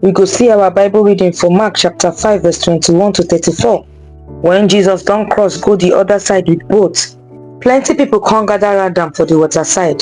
We go see our Bible reading for Mark chapter 5 verse 21 to 34. When Jesus don cross go the other side with boat, plenty people come gather around am for the water side.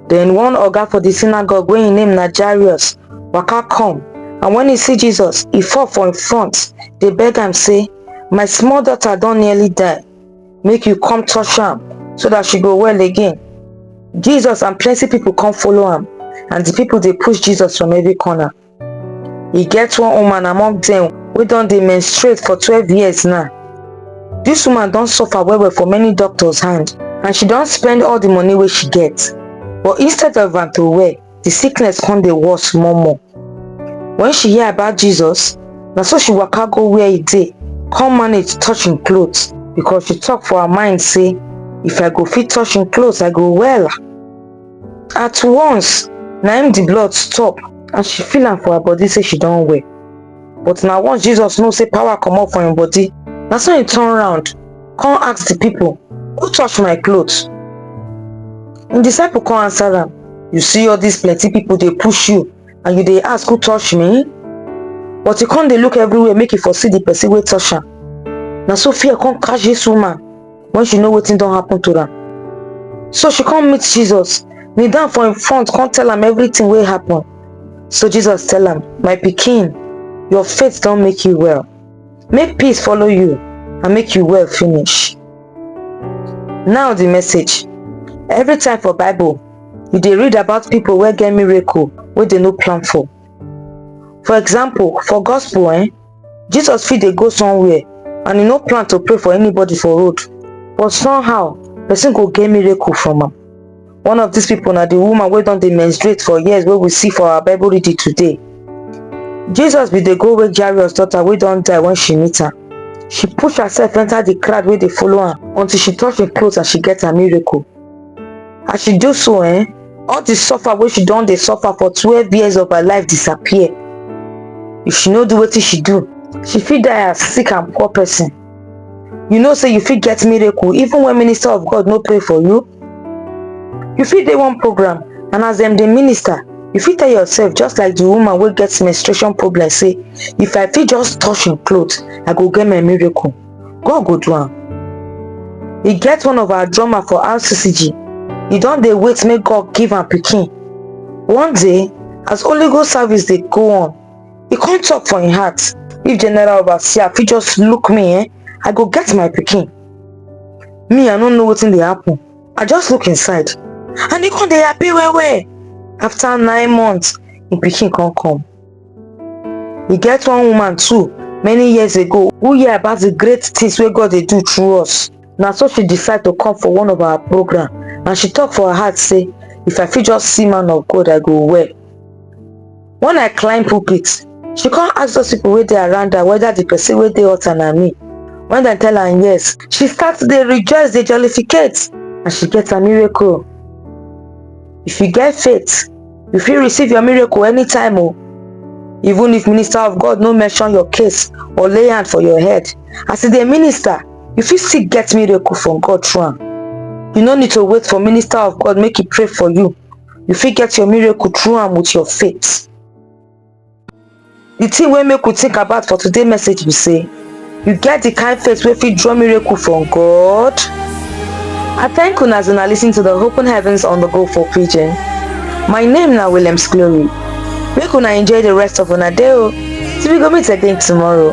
Then one oga for the synagogue wey im name na Jairus waka come and when he see Jesus, he fall for im front dey beg am say, My small daughter don nearly die make you come touch am so that she go well again jesus and plenty people come follow am and the people dey push jesus from every corner e get one woman among dem wey don dey menstruate for twelve years now dis woman don suffer well well for many doctors hand and she don spend all the money wey she get but instead of am to well the sickness come dey worse small more. When she hear about Jesus, na so she waka go where e dey, come manage touch im clothes because she talk for her mind say, if I go fit touch im clothes, I go well. At once, na im the blood stop and she feel am for her body say she don well. but na once jesus know say power comot for im body na so im turn round come ask the people who touch my cloth im disciple come answer am you see all these plenty people dey push you and you dey ask who touch me but e come dey look everywhere make e for see the person wey touch am na so fear come catch this woman when she know wetin don happen to am so she come meet jesus kneel down for im front come tell am everything wey happen So Jesus tell am, My pikin, your faith don make you well. Make peace follow you and make you well finish. Now the message. Every time for Bible, you dey read about people wey get miracle wey dey no plan for. For example, for gospel eh, Jesus fit dey go somewhere and e no plan to pray for anybody for road but somehow person go get miracle from am. One of these people na the woman wey don dey menstruate for years wey we see for our Bible reading today. Jesus bin dey go wake Jairus daughter wey don die when she meet am. She push herself enter the crowd wey dey follow am until she touch im cloth and she get her miracle. As she do so eh, all the suffer wey she don dey suffer for twelve years of her life disappear. If she no do wetin she do, she fit die as sick and poor person. you know say you fit get miracle even when minister of god no pray for you you fit dey one program and as dem dey minister you fit tell yourself just like the woman wey get menstruation problem say if i fit just touch im cloth i go get my miracle god go do am e get one of our drummer for rccg e don dey wait make god give am pikin one day as holy ghost service dey go on e come talk for im heart if general overseer fit just look me eh i go get my pikin me i no know wetin dey happen i just look inside and e come dey happy well well after nine months im pikin come come e get one woman too many years ago who hear about the great things wey god dey do through us na so she decide to come for one of our program and she talk for her heart say if i fit just see man of god i go well When I climb pulpit, she come ask those people wey dey around her whether the person wey dey altar na me. When dem tell am yes, she start to dey rejoice, dey jollificate and she get her miracle. If you get faith, you fit receive your miracle anytime o. Even if minister of God no mention your case or lay hand for your head, as e dey minister, you fit still get miracle from God through am. You no need to wait for minister of God make e pray for you you fit get your miracle through am with your faith the thing wey make we think about for today message be say you get the kind faith wey fit draw miracle from god i thank una as una lis ten to the open heavens on the go for pidgin my name na williams glory make una enjoy the rest of una day o till we go meet again tomorrow.